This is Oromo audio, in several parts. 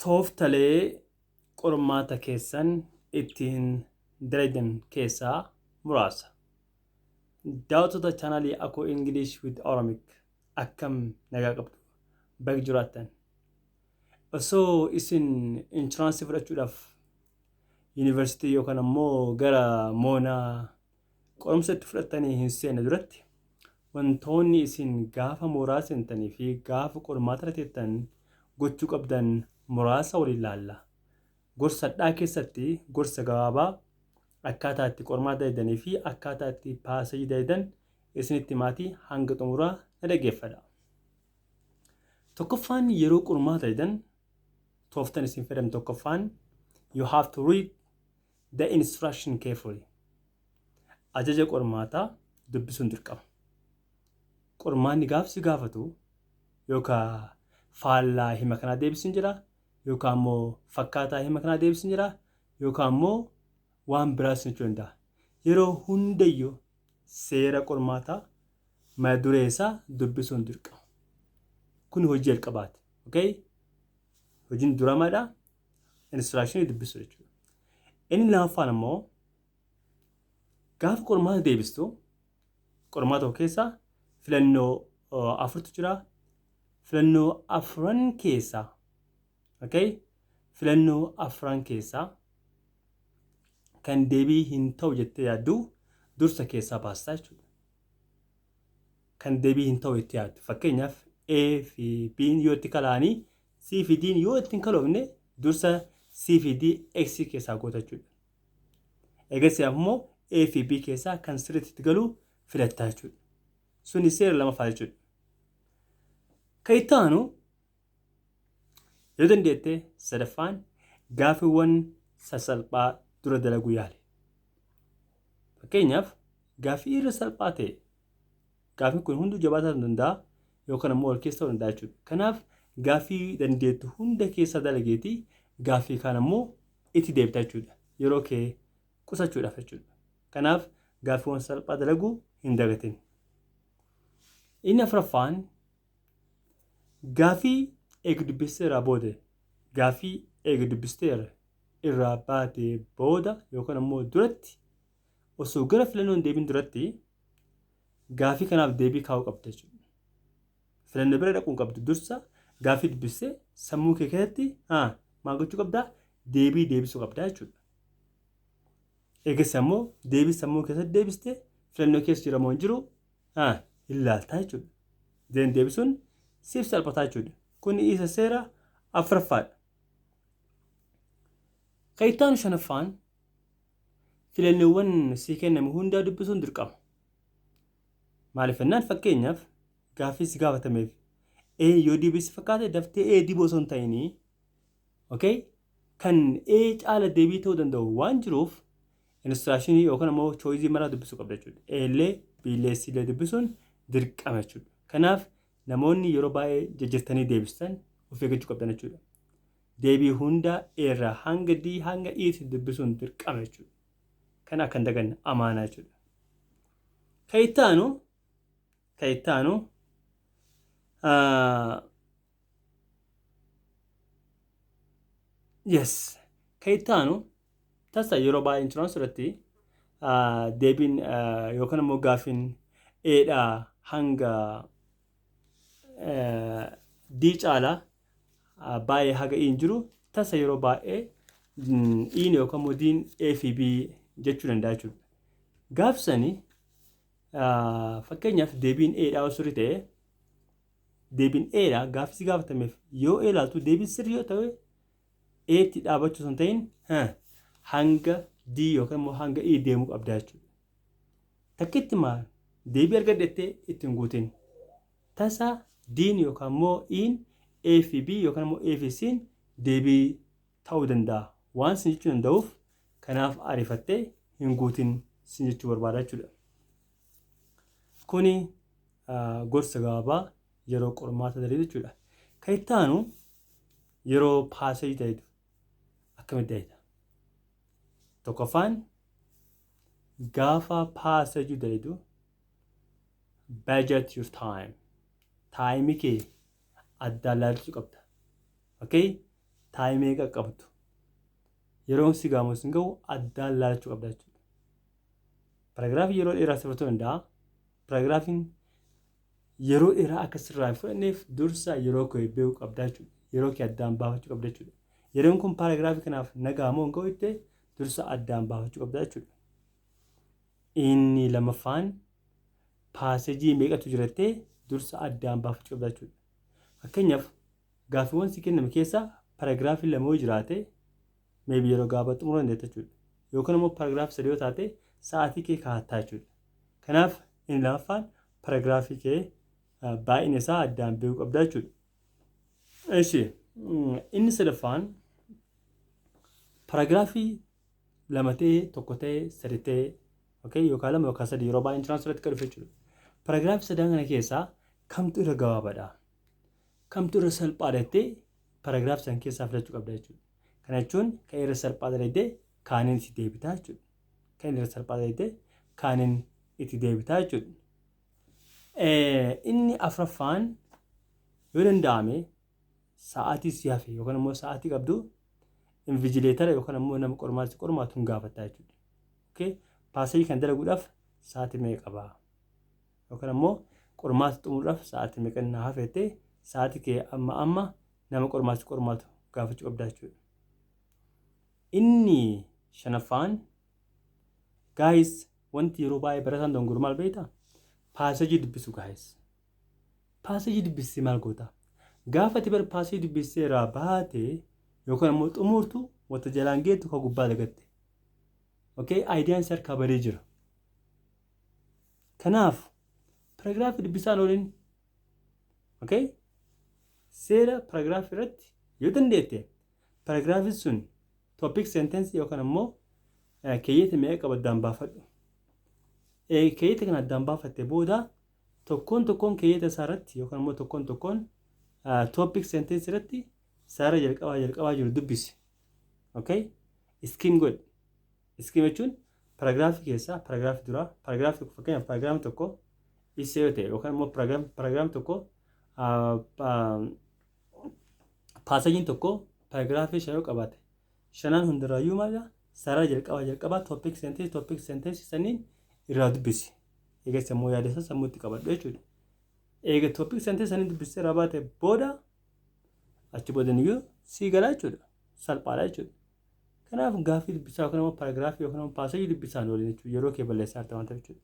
Tooftalee qormaata keessan ittiin dalagan keessaa muraasa. Daawwattoota chaanaalii Akoo English with Oromic akkam nagaa qabdu baga jiraattan. Osoo isin inshuraansii fudhachuudhaaf yuunivarsiitii yookaan ammoo gara moonaa Qorumsa itti fudhattanii hin seenne duratti wantoonni isin gaafa mooraa seentanii fi gaafa qormaata irra teettan gochuu qabdan muraasa waliin laalla. Gorsa hadhaa keessatti gorsa gabaabaa akkaataa itti qormaata dalaydanii fi akkaataa itti paasajii dalaydan isinitti himaatii hanga xumuraa na dhaggeeffadha. Tokkoffaan yeroo qormaata dalaydan tooftan isin fayyadamtan tokkoffaan you have to read the instruction carefully. Ajaja qormaataa dubbisuun dirqama. Qormaanni gaafsi gaafatu yookaan faallaa hima kanaa deebisuun jira yookaan immoo fakkaataa hima kanaa deebisuun jira yookaan immoo waan biraas jechuu danda'a. Yeroo hundayyuu seera qormaataa mata duree isaa dubbisuun dirqama. Kun hojii jalqabaati. Okay? Hojiin duramaadha. Inistiraakshini dubbisu jechuudha. Inni lamaffaan ammoo gaafa qormaata deebistu qormaata tokko keessa filannoo afurtu jira. Filannoo afran keessaa okay? filannoo afran keessaa kan deebii hin ta'u jettee yaaddu dursa keessaa baastaa jechuudha. Kan deebii hin ta'u jettee yaaddu fakkeenyaaf A fi B yoo itti kalaanii C fi D'n yoo ittiin kaloofne dursa C fi D X keessaa goota jechuudha. Eegasii ammoo A fi B keessaa kan sirriitti itti galu filattaa jechuudha. Suni seera lamaffaa jechuudha. Kan itti aanu yoo dandeette sadaffaan gaaffiiwwan sassalphaa dura dalaguu yaali. Fakkeenyaaf gaaffii irra salphaa ta'e Gaaffiin kun hunduu jabaa ta'uu danda'a yookaan ammoo wal keessa ta'uu danda'a jechuudha. Kanaaf gaaffii dandeettu hunda keessa dalageeti gaaffii kaan ammoo itti deebita jechuudha. Yeroo kee qusachuudhaaf jechuudha. Kanaaf gaaffiiwwan salphaa dalaguu hin dagatin. Inni afuraffaan gaaffii eega dubbistee irraa booda gaaffii eega dubbistee irraa baatee booda yookaan ammoo duratti osoo gara filannoo hin deebiin duratti gaafii kanaaf deebii kaa'uu qabda jechuudha. Filannoo bira dhaquun qabdu dursa gaafii dubbistee sammuu kee keessatti haa maal gochuu qabdaa deebii deebisuu qabdaa jechuudha. Eegas ammoo deebii sammuu keessatti deebistee filannoo keessa jira moo hin jiru haa hin laaltaa jechuudha. Deebiin deebisuun siif salphataa jechuudha. Kun isa seera afuraffaadha. Kan itti aanu shanaffaan filannoowwan sii kenname hundaa dubbisuun dirqama. Maaliif jennaan fakkeenyaaf gaaffii si gaafatameef A yoo deebii si fakkaate daftee A dibuu osoo hin ta'inii okay? kan A caala deebii ta'uu danda'u waan jiruuf inistiraashinii yookaan immoo chooyizii maraa dubbisuu qabda jechuudha. A illee B illee C illee dubbisuun dirqama jechuudha. Kanaaf namoonni yeroo baay'ee jijjirtanii deebistan of eeggachuu qabdan jechuudha. Deebii hunda A irraa hanga D hanga E tti dubbisuun dirqama jechuudha. Kana akka hin daganne amaanaa jechuudha. Ka itti aanu ka itti aanu ah, yes ka itti aanu tasa yeroo baay'ee inshuraansii irratti ah, deebiin ah, yookaan immoo gaafiin A dhaa hanga eh, D caalaa baay'ee haga iin jiru tasa yeroo baay'ee iin yookaan immoo diin A fi B jechuu danda'a jechuudha. Gaafsani fakkeenyaaf deebiin A dhaa sirrii ta'e deebiin A dhaa gaaffisi gaafatameef yoo A ilaaltu deebiin sirrii yoo ta'e A tti dhaabachuu sun ta'in hanga D yookaan immoo hanga E deemuu qabdaa jechuudha. Takkitti maal deebii argadhettee ittiin guutin. Tasa D'n yookaan immoo E'n A fi B yookaan immoo A fi C'n deebii ta'uu danda'a waan sin jechuu danda'uuf kanaaf ariifattee hin guutin sin jechuu barbaada jechuudha. Kuni gorsa gabaabaa yeroo qormaata daree jechuudha. Kan itti aanu yeroo paaseejii ta'etu akkamitti da'ita? Tokkoffaan gaafa paaseejii da'itu budget your time taayimi kee addaan laalchuu qabda okay taayimi eega qabdu yeroon si gaamu sin ga'u addaan laalchuu qabda jechuudha paragraafii yeroo dheeraa si fudhachuu danda'a paragraafiin yeroo dheeraa akka sirraa hin fudhanneef dursa yeroo kee beekuu qabda jechuudha yeroo kee addaan baafachuu qabda jechuudha yeroon kun paragraafii kanaaf nagaa moo hin ga'u jettee dursa addaan baafachuu qabda jechuudha Inni lamaffaan paasejii meeqatu jira jettee dursa addaan baafachuu qabda jechuudha. Fakkeenyaaf gaaffiiwwan si kenname keessa paraagiraafii lama yoo jiraate meebi yeroo gaabaa xumuruu dandeetta jechuudha. Yookaan immoo paraagiraafii sadii yoo taate sa'aatii kee kaa'attaa jechuudha. Kanaaf inni lamaffaan paraagiraafii kee baay'ina isaa addaan beekuu qabda jechuudha. Eshi inni sadaffaan paraagiraafii lama ta'ee tokko ta'ee sadi ta'ee okay yookaan lama yookaan sadi yeroo baay'een tiraansuu irratti kan dhufe jechuudha. Paraagiraafii sadan kana keessaa kamtu irra gabaabaadha? Kamtu irra salphaa jettee paraagiraafii san keessaa filachuu qabda jechuudha. Kana jechuun kan irra salphaa dalaydee kaaniin itti deebitaa jechuudha. Kan irra salphaa dalaydee kaaniin itti deebitaa jechuudha. Inni afraffaan yoo danda'ame sa'aatii si hafe yookaan ammoo sa'aatii qabdu invijileetara yookaan ammoo nama qormaata qormaatu hin gaafatta jechuudha. Okay? Paasayii kan dalaguudhaaf sa'aatii meeqa qaba? Yookaan ammoo qormaata xumuruudhaaf sa'aatii meeqa na hafeettee sa'aatii kee amma amma nama qormaata qormaatu gaafachuu qabda jechuudha. Inni shanaffaan gaayis wanti yeroo baay'ee barataan dongooru maal beektaa? Paasajii dubbisu gaayis. Passage dubbistee maal goota? Gaafa ati bar passage dubbistee irraa baate yookaan ammoo xumurtu wanta jalaan geettu ka gubbaa dagatte. Okay? Aayidiyaan si harkaa badee jira. Kanaaf paragraafi dubbisaan oolin. Okay? Seera paragraafi irratti yoo dandeette paragraafi sun topic sentence yookaan ammoo keeyyata meeqa qabu addaan baafadhu. Keeyyata kana addaan baafatte booda Tokkoon tokkoon keeyyata isaa irratti yookaan immoo tokkoon tokkoon topic sentence irratti saara jalqabaa jalqabaa jiru dubbisi. Okay? Skim godhi. Skim jechuun paragraafii keessaa paragraafii duraa paragraafii tokko fakkeenyaaf paragraafii tokko isa yoo ta'e yookaan immoo paragraafii tokko paasajiin tokko paragraafii shan yoo qabaate shanan hundarraayyuu maal jedha sarara jalqabaa jalqabaa topic sentence topic sentence sanniin irraa dubbisi eega sammuu yaada isaa sammuutti qabadhu jechuudha eega topic sentence sanniin dubbistee irraa baate booda achi booda niyyuu sii galaa jechuudha salphaadha jechuudha kanaaf gaaffii dubbisaa yookaan immoo paraagiraafii yookaan immoo paaseejii dubbisaan waliin jechuudha yeroo kee balleessaa jirta waan ta'eef jechuudha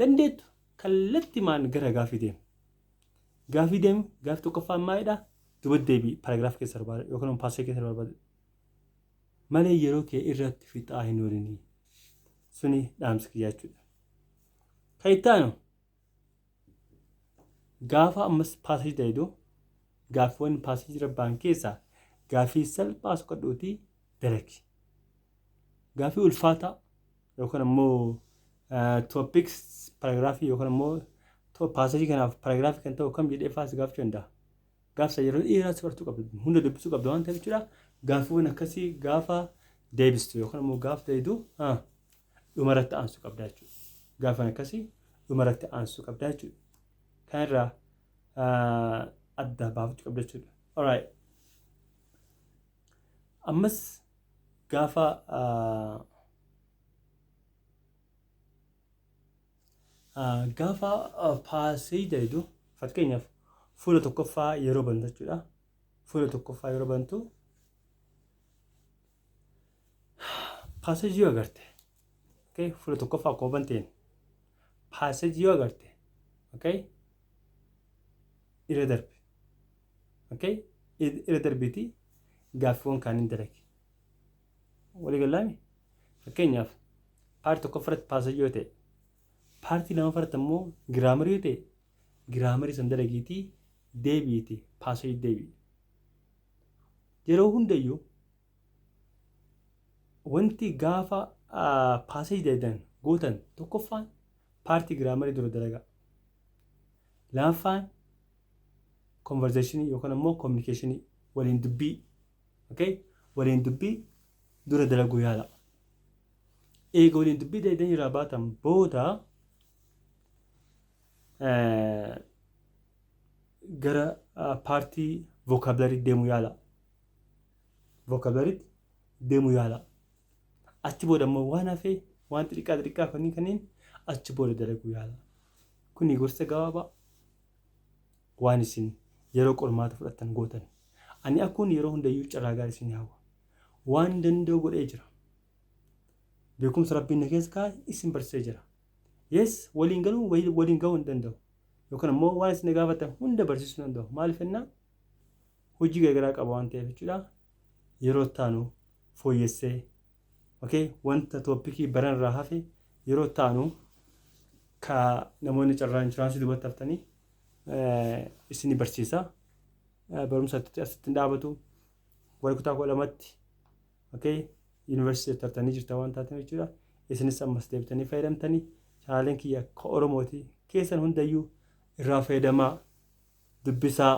dandeettu kallattimaan gara gaaffii deema Gaafii deemu gaafii tokkoffaan maalidha? Duba deebii paragraafa keessa barbaada yookaan immoo paasee keessa barbaada. Malee yeroo kee irratti fixaa hin oolini. Suni dhaamsi kiyyaa jechuudha. Kan itti aanu gaafa ammas paasee daydu gaaffiiwwan paasee jira ba'an keessaa gaafii salphaa soqadhuutii dalagi. Gaafii ulfaataa yookaan ammoo topics paragraafii yookaan ammoo paasajii kanaaf paragraafii kan ta'u kam jedhee faas gaafachuu danda'a. Gaafsa yeroo dheeraas bartuu qabda hunda dubbisuu qabda waan ta'eef jechuudha. Gaaffiiwwan akkasii gaafa deebistu yookaan ammoo gaaf deebidu dhumarratti aansuu qabda jechuudha. Gaaffiiwwan akkasii dhumarratti aansuu qabda jechuudha. Kanarraa adda baafachuu qabda jechuudha. Alright. Ammas gaafa gaafa paaseeja jedhu fakkeenyaaf fuula tokkoffaa yeroo bantu jechuudha. Fuula tokkoffaa yeroo bantu paaseeji yoo agarte okay? fuula tokkoffaa akkuma banteen paaseeji yoo agarte okay? irra darbe Okay? Ir- Irra darbiitii gaaffiiwwan kaaniin dalagi. Walii gallaami? Fakkeenyaaf paartii tokkoffaa irratti paasajii yoo ta'e paartii lammaffaa irratti immoo giraamarii yoo ta'e giraamarii san dalagiitii deebi'iitii paasajii deebi'i. Yeroo hundayyuu wanti gaafa paasajii dalagan gootan tokkoffaan paartii giraamarii dura dalagaa. Lammaffaan konvarzeeshinii yookaan ammoo kominikeeshinii waliin dubbii okay? waliin dubbii dura dalaguu yaala. Eega waliin dubbii dalaydanii irraa baatan booda eh, gara ah, paartii vookaabilarii deemuu yaala. Vookaabilariitti deemuu yaala. Achi booda ammoo waan hafee waan xixiqqaa xixiqqaa kanneen kanneen achi booda dalaguu yaala. Kuni gorsa gabaabaa waan isin yeroo qormaata fudhattan gootan. Ani akkuun yeroo hundayyuu carraa gaarii isin hawwa. Waan danda'u godhee jira. Beekumsa Rabbiin na keessa kaa'e isin barsiisee jira. Yes, waliin galuu wal- waliin ga'uu hin danda'u. Yookaan immoo waan isin na gaafattan hunda barsiisuu hin danda'u. Maaliif jennaan hojii garaagaraa qaba waan ta'eef jechuudha. Yeroo itti aanu fooyyessee ok wanta topic baran irraa hafe yeroo itti aanu ka namoonni carraa inshuraansii duubatti haftanii isin barsiisa barumsa asitti hin dhaabatu warri kutaa kudha lamatti ok yuunivarsiitii tartanii jirta waan taatan jechuudha isinis ammas deebitanii fayyadamtanii chaanaleen kiyya ka oromooti keessan hundayyuu irraa fayyadamaa dubbisaa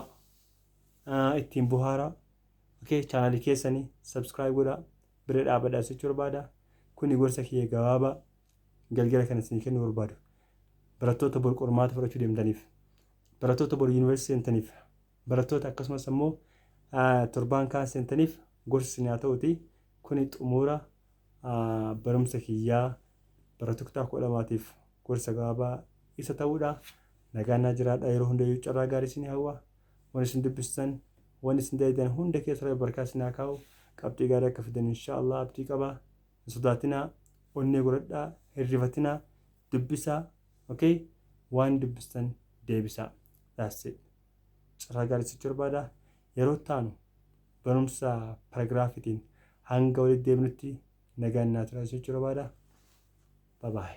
ittiin buhaaraa Okay channel keessani subscribe godhaa bira dhaabadha sichu barbaada kuni gorsa kiyya gabaabaa galgala kana isin kennu barbaadu barattoota bor qormaata fudhachuu deemtaniif barattoota bor yuunivarsiitii seentaniif barattoota akkasumas ammoo torbaan kaan seentaniif gorsi isin haa ta'uti kuni xumura barumsa kiyyaa barattoota kutaa kudha lamaatiif gorsa gabaabaa isa ta'uudha nagaan naa jiraadha yeroo hundayyuu carraa gaarii isin hawwa wan isin dubbistan wan isin dalaydan hunda keessa rabbi barkaa isin haa kaa'u qabxii gaarii akka fidan inshaa allah abdii qaba hin sodaatinaa onnee godhadhaa hin rifatinaa dubbisaa ok waan dubbistan deebisaa that's it carraa gaarii isinitti barbaada yeroo itti aanu barumsa paragraafitiin hanga walitti deebinutti nagaan naa turaa isinitti barbaada bye bye